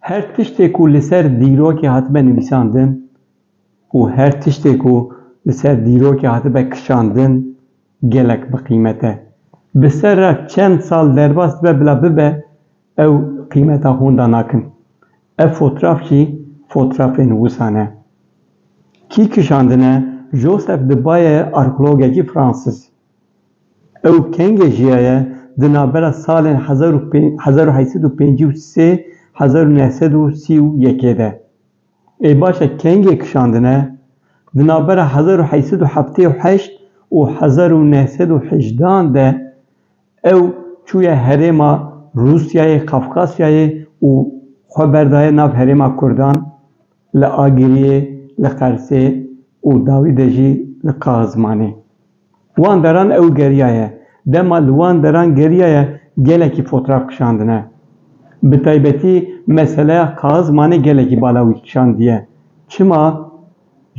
Her tiştê ku li ser dîrokê hatibe nivîsandin û her tiştê ku li ser dîrokê hatibe kişandin gelek bi qîmet e. Bi ser re çend sal derbas dibe bila bibe Ew qîmeta honda nakin. Ev fotraf jî fotrafên wisa ne. Kî kişandine Joseph di baye arkeologekî Fransîz. Ew kengê jiyaye di navbera salên hezar û hezar û heşt sed û pêncî û sê hezar û neh sed û sî û yekê de. Ê baş e kengê kişandine di navbera hezar û heşt sed û heftê û heşt û hezar û neh sed û hejdan de Ew çûye herêma Rûsyayê Kafkasyayê û xwe berdaye nav herêma Kurdan li Agiriyê, li Qersê û dawî de jî li Qaxizmanê. Wan deran ew geriyaye. Dema li wan deran geriyaye gelekî fotraf kişandine. Bi taybetî meseleya Qaxizmanê gelekî bala wî kişandiye. Çima?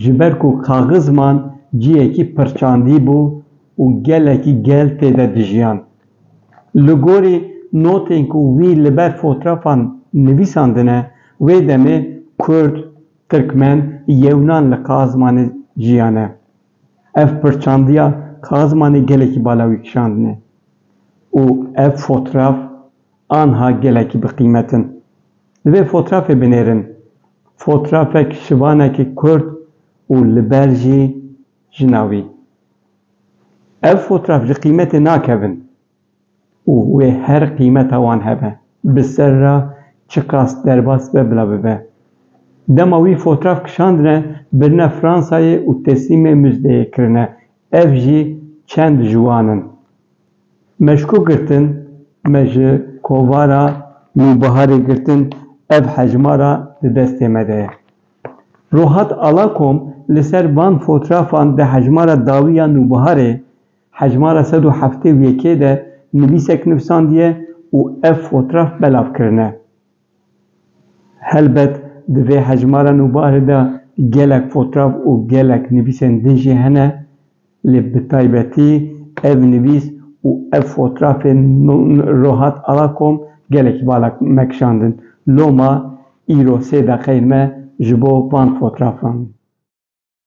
Ji ber ku kaxizman ciyekî pirçandî bû û gelekî gel tê de dijiyan. Li gorî notên ku wî li ber fotrafan nivîsandine, wê demê Kurd, Tirkmen, Yewnan li Kaxizmanê jiyane. Ev pirçandiya Kaxizmanê gelekî bala wî kişandine û ev fotraf anha gelekî bi qîmet in. Li vê fotrafê binêrin fotrafek şivanekî kurd û li ber jî jina wî. Ev fotraf ji qîmetê nakevin û wê her qîmeta wan hebe, bi ser re çiqas derbas be bila bibe. Dema wî fotraf kişandine birine Fransayê û teslîmê muzdeyê kirine, ev jî çend ji wan in. Meşko girtin, me ji kovara nûbiharê girtin, ev hejmara di destê me de ye. Rohat Alakom li ser van fotrafan di hejmara dawî ya nûbiharê, hejmara sed û heftê û yekê de nivîsek nivîsandiye û ev fotraf belav kirine. Helbet di vê hejmara nûbarê de gelek fotrav û gelek nivîsên din jî hene, lê bi taybetî ev nivîs û ev fotrafên Rohat Alakom gelekî bala me kişandin. Loma îro sê deqeyên me ji bo van fotrafan in.